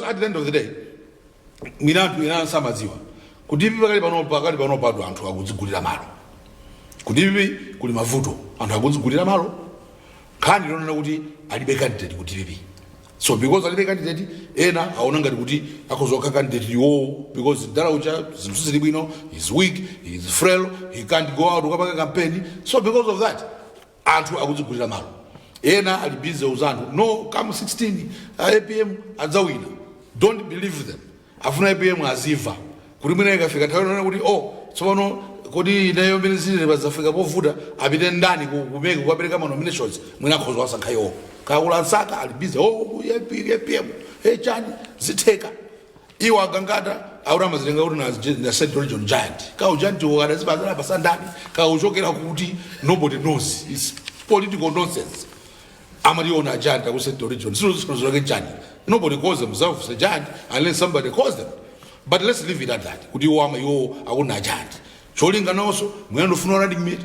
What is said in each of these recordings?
at the end of the day mwina anthu ena samadziwa ku dpp pakali pano pakali pano pado anthu akudzigulira malo ku dpp kuli mavuto anthu akudzigulira malo nkhani yonena kuti alibe candidate ku dpp so because alibe candidate ena aona ngati kuti akhoza kukhala candidate iwowo because mdala uja zinthu sizili bwino he's weak he's frail he can't go out kukapanga campaign so because of that anthu akudzigulira malo ena ali busy kuuza anthu no come 16 a apm adzawina don't believe them afuna apm azimva kuti mwina ikafika nthawi yonena kuti oh tsopano kodi ineyo mene zilili apa zafika povuta apite ndani ku- ku mec kukapereka ma nominations mwina akhoza kuwasankha iwo kakula nsaka ali busy oh ku apm apm hey chani zitheka iwo a gangata akuti amazitenga kuti na- ndi Central Region Giant ka ugiant uwo adazipatsa anawapatsa ndani ka uchokera kuti nobody knows it's political nonsense amaziona giant aku Central Region sio zisiko zake giant nobody calls themselves a giant unless somebody calls them but let's leave it at that kuti iwo ama iwo akuna giant cholinga naonso mwina ndofuna u running mate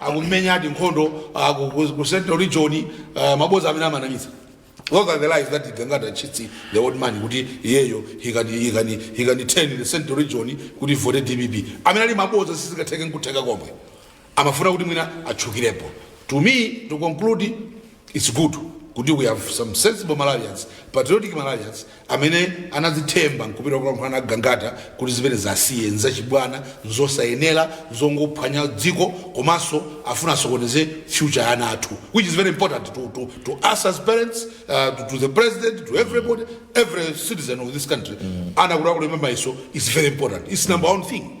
akumenyadi nkhondo ah, ku- ku ku central region ah, maboza amene amanamiza those are the lies that gangata cheats the old man kuti iyeyo he can, he can, he can turn the central region kuti vote dpp amene ali maboza sizikatheke nkutheka komwe amafuna kuti mwina atchukirepo to me to conclude It's good kuti we have some sensible Malawians, patriotic Malawians amene anadzithemba nkupita kukalankhulana na Gangata kuti zimenezi asiye nzachibwana, nzosayenera, nzongophwanya dziko komanso afuna asokoneze future ya ana athu which is very important to, to, to us as parents, uh, to, to the president, to everybody, every citizen of this country. Ana kuti akulemba mayeso is very important. It's number one thing.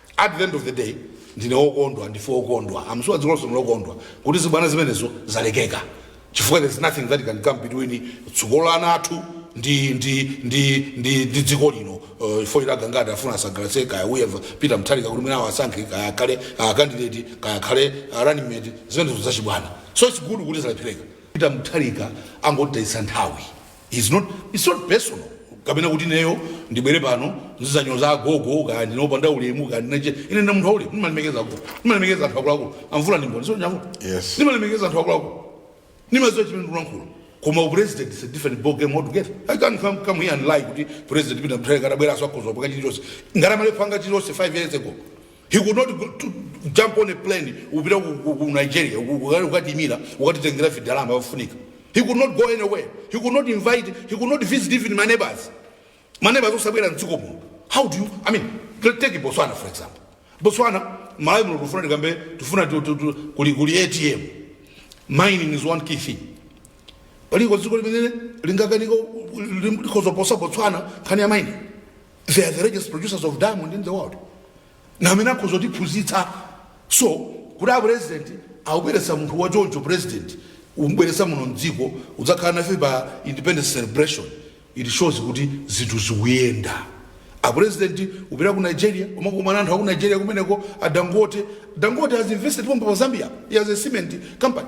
At the end of the day ndine wokondwa ndife okondwa I'm sure dziko lonse ndilokondwa kuti zibwana zimenezo zalekeka chifukwa there's nothing that can come between tsogolo la ana athu ndi ndi ndi ndi ndi dziko lino uh, if a gangata afuna asangalatse kaya uyeva peter mutharika kuti mwina awasankhe kaya akhale uh, candidate kaya akhale uh, running mate zimenezo zachibwana so it's good kuti zalephereka peter mutharika angotayitsa nthawi It's not, it's not personal kapena kuti ineyo ndibwere pano ndizanyoza agogo kaya ndine opanda ulemu kaya ndine chani ine ndi munthu wa ulemu ndimalemekeza agogo ndimalemekeza anthu akuluakulu amvula ndi mboni sichoncho amvula Yes. ndimalemekeza anthu akuluakulu ndimaziwa chimene ndikulankhula koma upresident is a different ball game altogether i can't come, come here and lie kuti president peter mutharika atabweranso akhoza kupanga chilichonse ngati amalephera kupanga chilichonse 5 years ago he could not go to jump on a plane upita ku, ku, ku nigeria uku- uku- ukatimira ukatitengera vidalama vafunika he could not go anywhere he could not invite he could not visit even my neighbors my neighbors osabwera mdziko muno how do you i mean t- take botswana for example botswana malawi muno tufuna tikambe tufuna tu- tu- tu- kuli kuli atm mining is one key thing paliko dziko limene lingakanika likozoposa botswana nkhani ya mining they are the largest producers of diamond in the world ndi amene akhoza kutiphunzitsa so kuti a president akubweretsa munthu wa choncho president umbweretsa muno mdziko kudzakhala nafe pa independence celebration it shows kuti zinthu zikuyenda a president kupita ku nigeria kumakumana ndi anthu aku nigeria kumeneko a dangote dangote has invested pompa pa zambia he has a cement company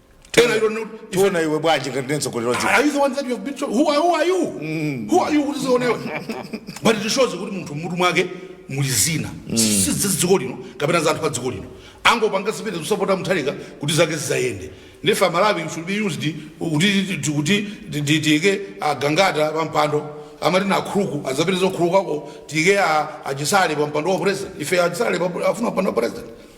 Tell her you don't know. if you- tiona iwe bwanji ngati ndi mtsogoleri wa dziko Are you the one that you have been told? Who are, who are you? Who are you? Kuti uzionewe. But it shows kuti munthu mutu mwake muli zina, si za dziko lino kapena za anthu a dziko lino. Angopanga zimenezi kusapota Mutharika kuti zake zizayende. Ndiye ife Amalawi should be used kuti kuti tiyike a Gangata pampando amatenga nkhuluku azapereke nkhulukuko tiyike a Chisale pampando wa president ife a Chisale afuna mpando wa president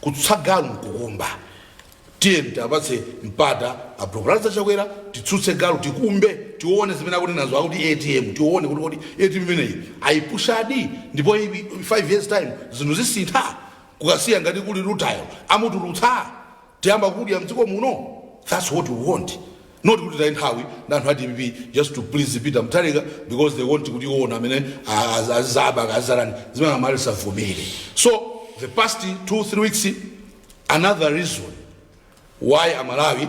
Kutsutsa galu nkukumba. Tiyeni tiwapatse mpata abale a Lazarus Chakwera titsutse galu tikumbe tione zimene akunenazo akuti ATM tione kuti kodi ATM imeneyi ayipushadi ndipo 5 years time zinthu zisintha ku Kasiya ngati kuli rutile amutulutsa tiyamba kudya mdziko muno that's what we want. not kuti taye nthawi na anthu a dpp just to please peter mutharika because they want kuti iwona amene azaba kazarani zimene amali savomere so the past two three weeks another reason why amalawi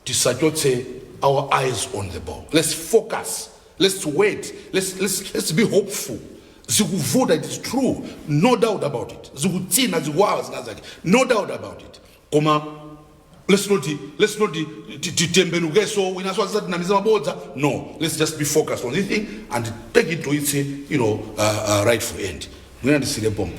tisachotse our eyes on the ball let's focus let's wait let's, let's, let's be hopeful zikuvuta it is true no doubt about it zikutsina zikuwawa zina zake no doubt about it koma let's not let's not titembenukeso winaso azizatinamiza mabodza no let's just be focused on this thing and take it to its you know uh, uh, rightful end mwina ndisile pompo